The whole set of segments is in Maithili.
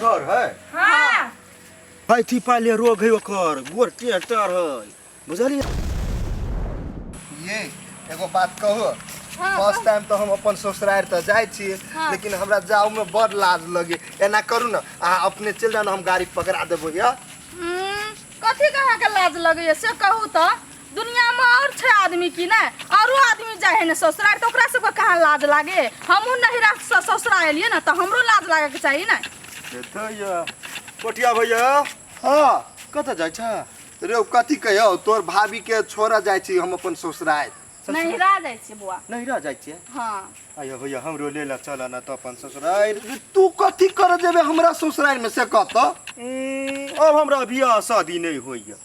डर है हाँ भाई थी पाले रोग है ओकर गोर टेर टेर है बुझलिए ये एगो बात कहू हाँ, फर्स्ट टाइम तो हम अपन ससुराल तो जाए छिए हाँ। लेकिन हमरा जाओ में बड़ लाज लगे एना करू ना आ अपने चल जाना हम गाड़ी पकड़ा देबो या हम्म, कथी कहाँ के लाज लगैए से कहू तो दुनिया में और छे आदमी की ना औरो आदमी जाए है ना ससुराल तो ओकरा सबके कहाँ लाज लागे हमहू नहिरा से ससुराल एलिए ना तो हमरो लाज लागे के चाहिए ना भैया कोटिया भैया हाँ कतऽ जाइ छ रे ओ कथी कहियौ तोर भाभी के छोड़ा जाइ छी हम अपन ससुराल नहिरा जाए छे बुआ नहीं रह जाइ छियै हाँ आयो भैया हमरो ले ल चल न तऽ अपन ससुराल रे तू कथी कर जेबे हमरा ससुराल में से कहत अब हमरा बियाह शादी नहीं होइए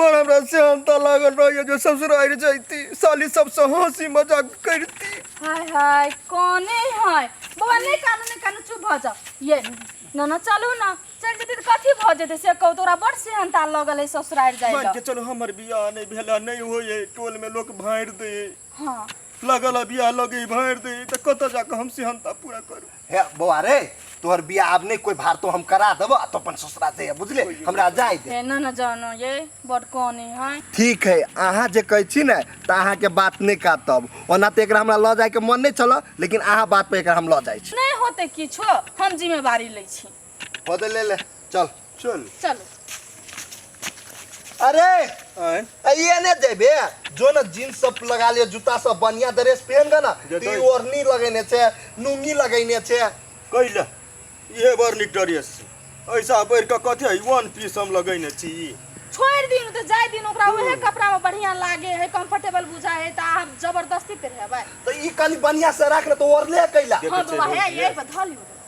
बड़ हमरा सेहनता लागल रहिए जो ससुरारि जैती साली सबसँ हँसी मजाक करिती हाय हाय कौने है बौआ नहीं कानू नहीं कानू चुप भ जा ये ना ना चलू ना चल जेते त कथी भ जेते से कहू तोरा बड़ सेहनता लगल है ससुराल जाए मान के चलो हमर बियाह नहीं भेला नहीं होए टोल में लोग भांड़ दे हां लगल है बियाह लगे भांड़ दे त कत जाके हम सेहनता पूरा करू हे बौआ रे तोहर बिया आब नहीं कोई भारतो हम करा देबो तो अपन ससुरा से बुझले हमरा जाय दे हे ना ना जानो ये बड़ कौनी है ठीक है अहाँ जे कहै छी ने तऽ अहाँके बात नहि काटब ओना तऽ एकरा हमरा लऽ जायके मन नहि छलऽ लेकिन अहाँ बात पर एकरा हम लऽ जाइ छी नहीं होते किछो हम जिम्मेवारी ले छी पद ले ले चल चल चल अरे आय अइए ने जेबे जो ना जींस सब लगा लियो जूता सब बढ़िया ड्रेस पहन के ना जे ती तो- ओढ़नी लगेने छे लुंगी लगेने छे कैला ये बार निकटरियस ऐसा बैर के कथी है वन पीस हम लगैने छी ई। छोड़ दिन तो जाए दिन ओकरा उहे कपड़ा में बढ़िया लागे है कंफर्टेबल बुझा है तो आप जबरदस्ती पे है भाई तो ई कनी बढ़िया से राख ना तो ओढ़ले कैला देखै हाँ छै बाबा है रोज यही ये। पर धल लियो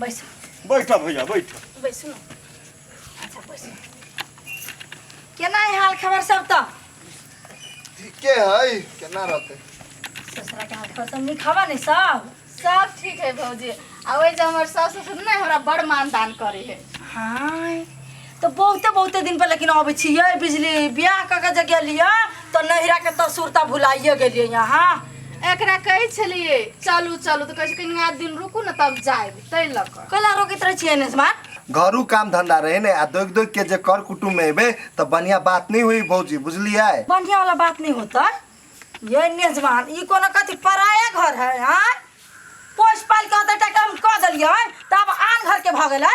बैसू बैठा भैया बैठा बैसू ने अच्छा बैसू केना है हाल खबर सब तो ठीके है केना रहते ससुरा के हाल खबर सब नीक हवा ने सब सब ठीक है भौजी आ ओहि जे हमर सास ससुर ने हमरा बड़ मानदान करे है हाँ तो बहुते बहुते दिन पर लेकिन अबै छी ये बिजली बियाह क के जे गेलिए तो नहिरा के तसुरता भुलाइए गेलिए यहाँ एकरा कहै छलिए चलू चलू तो कहै छै कनिया दिन रुकू न तब जाएब तै ल क कैला रोकित रहे छिए ने स्मार्ट घरू काम धंधा रहे ने आ दोग दोग के जे कर कुटुम में एबे तो बढ़िया बात नहीं हुई भौजी बुझलिए बढ़िया वाला बात नहीं होता ये नेजमान ई कोनो कथी पराया घर है हाँ पोस पाल के अतटा काम कऽ देलियै तब आन घर के भऽ गेलै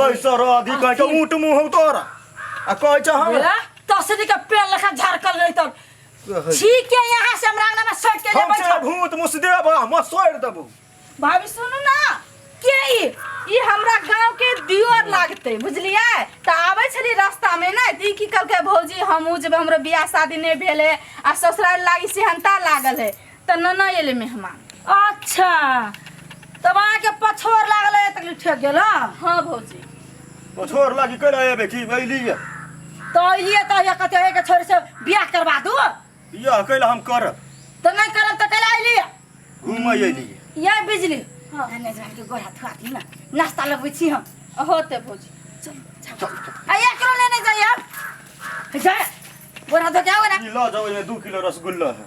बैस रह अभी कहे के ऊंट मुंह हो तोरा आ कहे छ हम ए, तसरी के पेड़ लखा झरकल रही तब कहे ठीक है यहाँ से हमरा अंगना में सट के ले हम से बैठो भूत मुस देब हम सोड़ देबो भाभी सुनू ना के ई ई हमरा गांव के दियोर लागते बुझलिए त आबै छली रास्ता में ना ती की कहलकै भौजी हमहूँ जब हमरो बियाह शादी नहि भेल है आ ससुराल लागी सेहनता लागल है त नना एले मेहमान अच्छा तब अहाँके पछोर लागल है तक ठेक गेल हँ? हाँ भौजी ओ छोड़ लागी कहिना एबे कि अइली है तो अलिए तो ये कहते है कि छोरी से बियाह करवा दू यह कैला हम करब तो नहीं करब तो कल अलिए घूमै अइली है ये बिजली हाँ। धन्य जवान के गोरा थुआ दी ना नाश्ता लगबै छी हम होते भौजी आ एक किलो लेने जाइए अब जाए गोरा धो के आओ ना ई लऽ जाओ एहिमे दू किलो रसगुल्ला है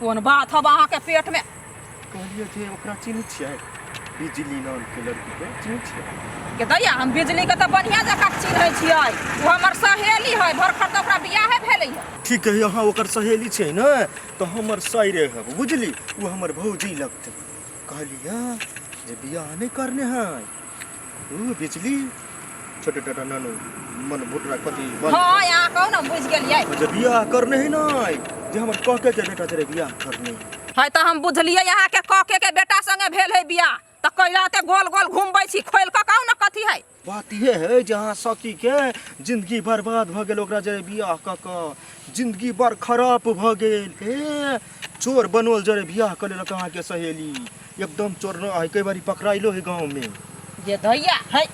कोन बात हब अहाँके पेटमे कहलियै जे ओकरा चिन्है छियै बिजली नामके लड़कीके चिन्है छियै के दैया हम बिजलीके तऽ बढ़िआँ जकाँ चिन्है छियै ओ हमर सहेली है भर खर तऽ ओकरा बियाहे भेलै है ठीक है अहाँ ओकर सहेली छै ने तऽ हमर साइरे है बुझली ओ हमर भौजी लगतै कहलियै जे बियाह नहि करने है ओ बेचली छोटे टाटा नानो मन बुटरा कथी बन हाँ यहाँ कहू ना बुझ गलिए अच्छा बियाह करने है ना जे हमर कह के जे बेटा तेरे बियाह करने है है तो हम बुझलिए यहाँ के कके के बेटा संगे भेल है बियाह तो कैला ते गोल गोल घूमबै छी खोल के कहू ना कथी है बात ये है जहाँ सखी के जिंदगी बर्बाद भ गेल ओकरा जे बियाह क क जिंदगी बड़ खराब भ गेल हे चोर बनोल जरे बियाह कर लेलक अहाँ के सहेली एकदम चोर न है कई बारी पकड़ाइलो है गांव में जे धैया है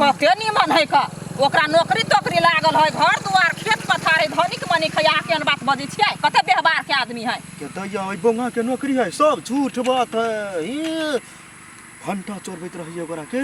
कते निमन है का ओकरा नौकरी तोकरी लागल है घर दुआर खेत पथार है धनिक मनिक है अहाँ केहन बात बजै छियै कते व्यवहार के आदमी है के दैया है बोंगा के नौकरी है सब झूठ बात है ई घंटा चोरबैत रहिए ओकरा के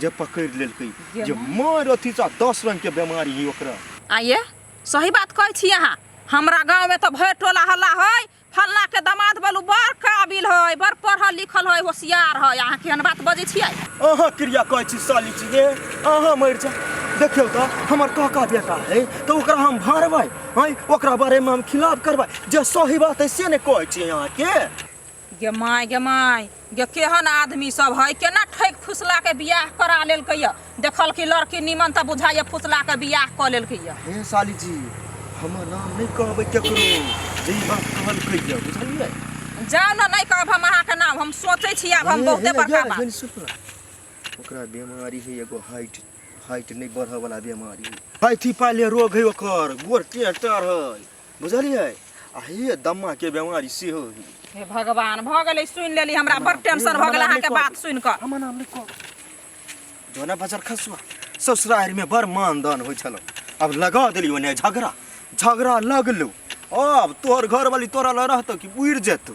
जे पकड़ लेलकै जे जे मार अथी सा दस रंग के बीमारी है ओकरा आइए सही बात कहै छी अहाँ हमरा गाँव में त भरि टोला हल्ला हइ, फलना के दमाद बलु बड़ काबिल हइ, बड़ पढ़ल लिखल हइ, होशियार हइ। अहाँ केहन बात बजै छियै? अहाँ किरिया कहै छी साली जी गे, अहाँ मरि जाउ। देखियौ त, हमर काका बेटा हइ, त ओकरा हम भरबै, हँइ, ओकरा बारे में हम खिलाफ करबै। जे सही बात हइ से ने कहै छियै अहाँ के। गे माय गे माय गे केहन आदमी सब है केना ठैक फुसला के बियाह करा लेलकै या देखल की लड़की निमन त बुझाइए फुसला के बियाह क लेलकै या हे साली जी हमर नाम नहीं कहबै केकरो जे ई बात कहलकै या बुझलियै जाओ ना नहीं कहब हम अहाँ के नाम हम सोचे छी आब हम हे, बहुते हे, बड़का जा, बात हे, सुन ना। ओकरा बीमारी है एगो हाइट हाइट नहीं बढ़े वाला बीमारी है हाथी पाले रोग है ओकर गोर टेढ़ टेढ़ है बुझलियै आ हे दम्मा के बेमारी सेहो ही हे भगवान भऽ गेलै सुनि लेली हमरा बड़ टेंशन भऽ गेल अहाँके बात सुनि कऽ हमर नाम लिखो दोना बाजार खसुआ ससुरारि में बड़ मानदान होइ छलो अब लगा देली ओने झगड़ा झगड़ा लगलो अब तोहर घर वाली तोरा लग रहतो कि उड़ि जेतो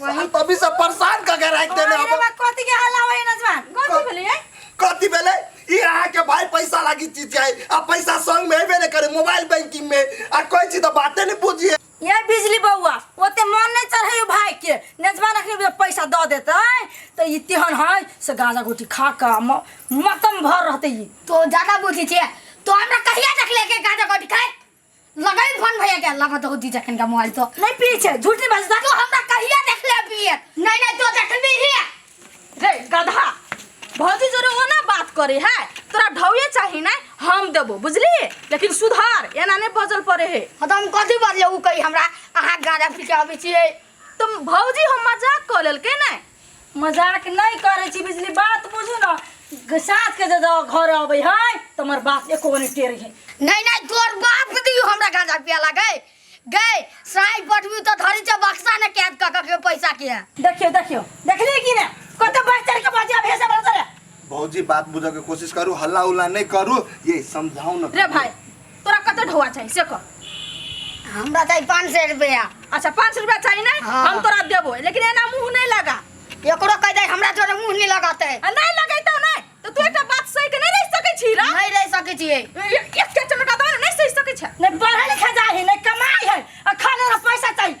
वही तभी से परेशान क के राख देने अरे अब बा कथी के हल्ला होय नजवान कथी भेलै ए? कथी भेले ई अहाँ के भाई पैसा लागी चीज जाए आ पैसा संग में हेबे ने करे मोबाइल बैंकिंग में आ कोई चीज तो बाते नहीं बुझिए ये बिजली बौआ ओते मन नहीं चढ़े भाई के नजवा रखने बे पैसा द देते तो ई तेहन है से गांजा गुटी खा के म- मतम भर रहते ई तो ज्यादा बुद्धि छे तो हमरा कहिया तक लेके गाजा कट खाए लगाई फोन भैया के लगा तो दी जखन का मोबाइल तो नहीं पिए छै झूठ नहीं बाजता तो हमरा कहिया देखले पिए नहीं नहीं तो जखन भी हिया रे गधा भौजी जोरे ओना बात करे है तोरा ढौए चाही ना हम देबो बुझली लेकिन सुधार एना नहीं बजल पड़े है हम कथी बजले उ कही हमरा अहाँ गाड़ा पी के आबै छियै तुम भौजी हम मजाक कऽ लेलकै ने मजाक नहीं करे छी बिजली बात बुझू ना ग- सास के जब घर अबे है तो हमार बाप एको नहीं टेर है नहीं नहीं तोर बाप दियो हमरा गांजा पिया लगे गए साई पटवी तो धरी छ बक्सा ने कैद क के पैसा के देखियो देखियो देखली कि ना कते बहतर के बाजा भेसा बरतर भौजी बात बुझे के कोशिश करू हल्ला उल्ला नहीं करू ये समझाऊ ना रे भाई तोरा कते ढोआ चाहिए से कह हमरा चाही पाँच सौ रुपया अच्छा पाँच रुपया चाहिए ना हाँ। हम तोरा देबो लेकिन एना मुंह नहीं लगा एकरो कह दे हमरा जोरे मुंह नहीं लगाते आ नहीं लगैतो नहीं तो तू एकटा बात सही के नहीं रह सकै छी रा नहीं रह सके छिए एक के चमका दो नहीं सही सकै छै नहीं पढ़े लिखे जाए है नहीं कमाई है और खाने ला पैसा चाहिए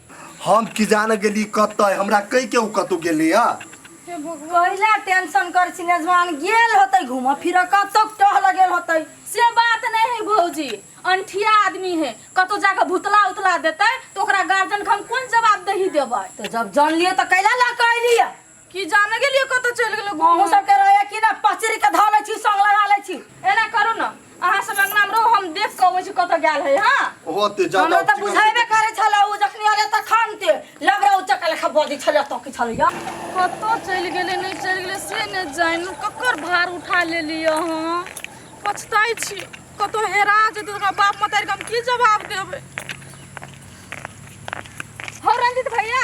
हम की जाने गेली कत हमरा कह के ओ कतौ गेले या हे भगवान कहिला टेंशन कर छी नजवान गेल होतै घूमऽ फिरऽ कतौ टहल गेल होतै से बात नहीं है भौजी अंठिया आदमी है कतौ जाके भुतला उतला देते तो ओकरा गार्जियन के हम कोन जवाब दही देबै तो जब जान लिए तो कैला ला कहली की जाने गेलिए कत चल गेलो अहूँ सबके रहैया कि ना पचरी के धऽ लै छी संग लगा लै छी एना करू न अहाँ सब अंगना में रहू हम देख के अबै छी कत गेल है हां ओहो ते जा हमरा तऽ बुझेबे करै छल ओ जखनी अरे तऽ खानते लबरा उचक लेखा बजै छल तऽ की छल यार कत चल गेले नहीं चल गेले से ने जाइन ककर भार उठा लेलिए हां पछताई छी कत हेरा जेते तो ओकरा बाप मतारी के हम की जवाब देबै हो रंजित भैया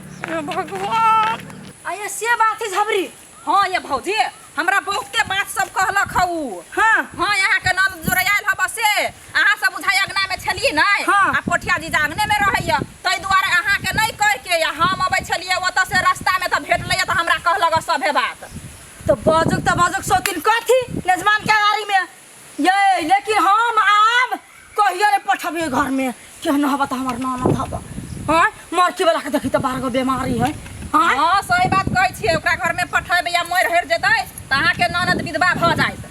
हे भगवान आये से बात है झबरी हाँ ये भौजी हमरा बहुते बात सब कहलक हौ हाँ हाँ यहाँ के नाम जोड़ायल हब से अहाँ सब बुझाइ अगना में छलिए नहीं हाँ। आ पोठिया जी जागने में रहैया ताहि दुआरे अहाँ के नहीं कह के या हम अबै छलिए ओतऽ से रास्ता में तऽ भेटलैया तऽ हमरा कहलक सभे बात तो बजुक तो बजुक सौतिन कथी लेजमान के आरी में ये लेकिन हम आब कहियो रे पठबे घर में केहन हवा त हमर नाना हवा हां मरकी वाला के देखी त बारह गो बीमारी है हां हाँ सही बात कहै छियै ओकरा घर में पठेबै या मरि हरि जेतै तऽ अहाँके ननद विधवा भऽ जायत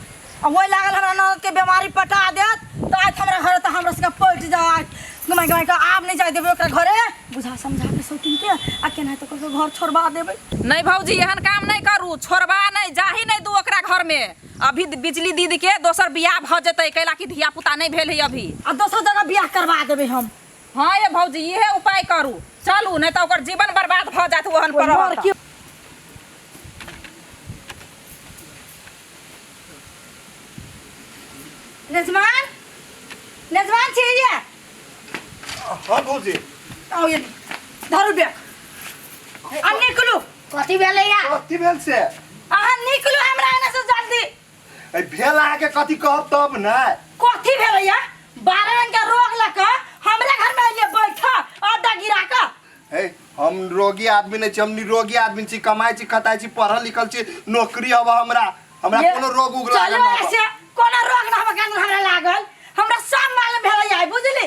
आ ओहि लागल हमरा ननद के बीमारी पटा देत त आज हमरा घर त हमरा सबके पट जाय गमाय गमाय के आब नहीं जाय देबे ओकरा घरे बुझा समझा के सोतिन के आ केना त ओकर घर छोड़वा देबे नहि भौजी एहन काम नहि करू छोड़बा नहि जाही नहि दू ओकरा घर में अभी बिजली दीदी के दोसर बियाह भ जतै कैला कि धिया पुता नहीं भेल है अभी आ दोसर जगह बियाह करवा देबे हम हाँ ये भौजी इहे उपाय करू चलू नहीं तो ओकर जीवन बर्बाद भ जात ओहन पर रहत लड़की त। नजमान नजमान छी ये हाँ भौजी आओ ये धरू बैग आ निकलू कथी भेलै या कथी भेल से अहाँ निकलू हमरा एने से जल्दी ए, भेल अहाँके कथी कहब तब ने कथी भेलै या बारह रंग के रोग लऽ कऽ हमरा घर में अइलिए बैठ अड्डा गिरा कऽ हे हम रोगी आदमी नहीं छी हम निरोगी आदमी छी कमाई छी खताई छी पढ़ल लिखल छी नौकरी हवा हमरा हमरा ये, कोनो रोग उग लागल चलो ना हवा। ऐसे कोनो रोग ना हमरा के अंदर हमरा लागल हमरा सब मालूम भेलै या बुझली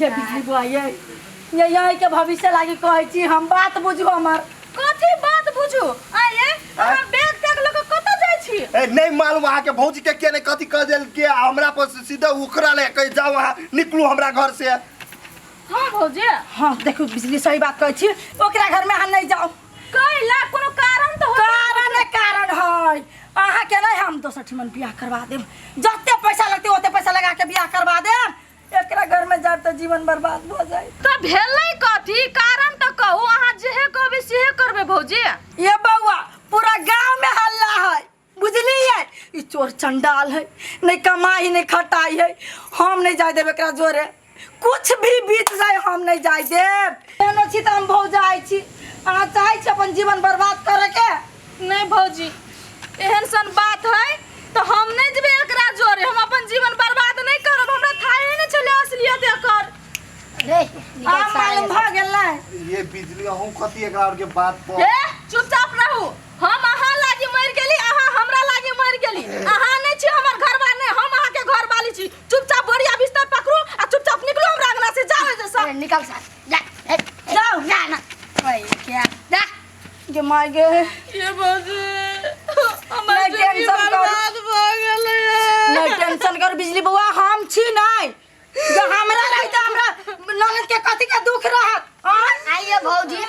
हे बिजली बुआ ये ये यही के भविष्य लागी कहै छी हम बात बुझू हमर कथी बात बुझू आये हमरा बैग तक लोग कत जाय छी ए, नहीं मालूम अहाँ के भौजी के के ने कथी कह देल के आ हमरा पर से सीधे उखड़ा ले कह जाओ अहाँ निकलू हमरा घर से हां भौजी हां देखू बिजली सही बात कहै छी ओकरा घर में हम नहीं जाओ कैला कोनो कारण तो होता कारण है, कारण है अहाँ के नहीं हम दोसर ठिमन बियाह करवा देब जते पैसा लगते ओते पैसा लगा के बियाह करवा देब एकरा घर में जाब त जीवन बर्बाद भ जाई त भेलै कथी कारण त कहू अहाँ जेहे कहबे सेहे करबे भौजी ये बउआ पूरा गांव में हल्ला है बुझलिए ई चोर चंडाल है नहीं कमाई नहीं खटाई है हम नहीं जाए देब एकरा जोरे कुछ भी बीत जाए हम नहीं जाए देब कोनो छी त हम भौजाई छी अहाँ चाहै छी अपन जीवन बर्बाद करे के नहीं भौजी एहन सन बात है तो हम नहीं जेबे एकरा जोरे हम अपन जीवन बर्बाद नहीं करब हमरा थाहे नहीं चले असलियत एकर रे आ निकल सारे मालूम भ गेलै ये बिजली अहूँ कथी एकरा और के बात पर ए चुपचाप रहू हम अहाँ लागी मर गेली अहाँ हमरा लागी मर गेली अहाँ नहीं छी हमर घरवा नहीं हम अहाँ के घर वाली छी चुपचाप बोरिया बिस्तर पकड़ू आ चुपचाप निकलू हमरा अंगना से जाओ जैसा अरे निकल सारे जा ए, ए, जाओ। जा ना ओए क्या जा जे माय गे ये बाबू हमर नहि जिंदगी टेंशन कर। बर्बाद भ गेलै नहीं टेंशन कर बिजली बुआ हम छी नहीं जो हमरा रही तो हमरा ननद के कथी के दुख रहत आय? आइए भौजी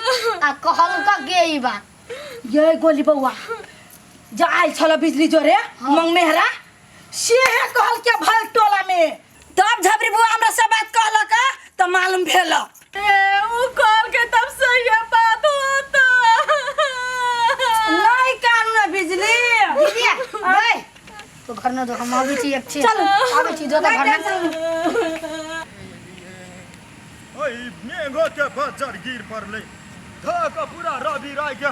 आ कहल का के ई बा ये गोली बउआ जो आयल छल बिजली जोरे मंग मेहरा से है कहल के भल टोला में तब झबरी बुआ हमरा से बात कहलक तो मालूम भेल ना दो हम आवे छी एक छी चल आवे छी जो तो घर में ओई मेघो के बजर गिर पड़ले धक पूरा रवि राय के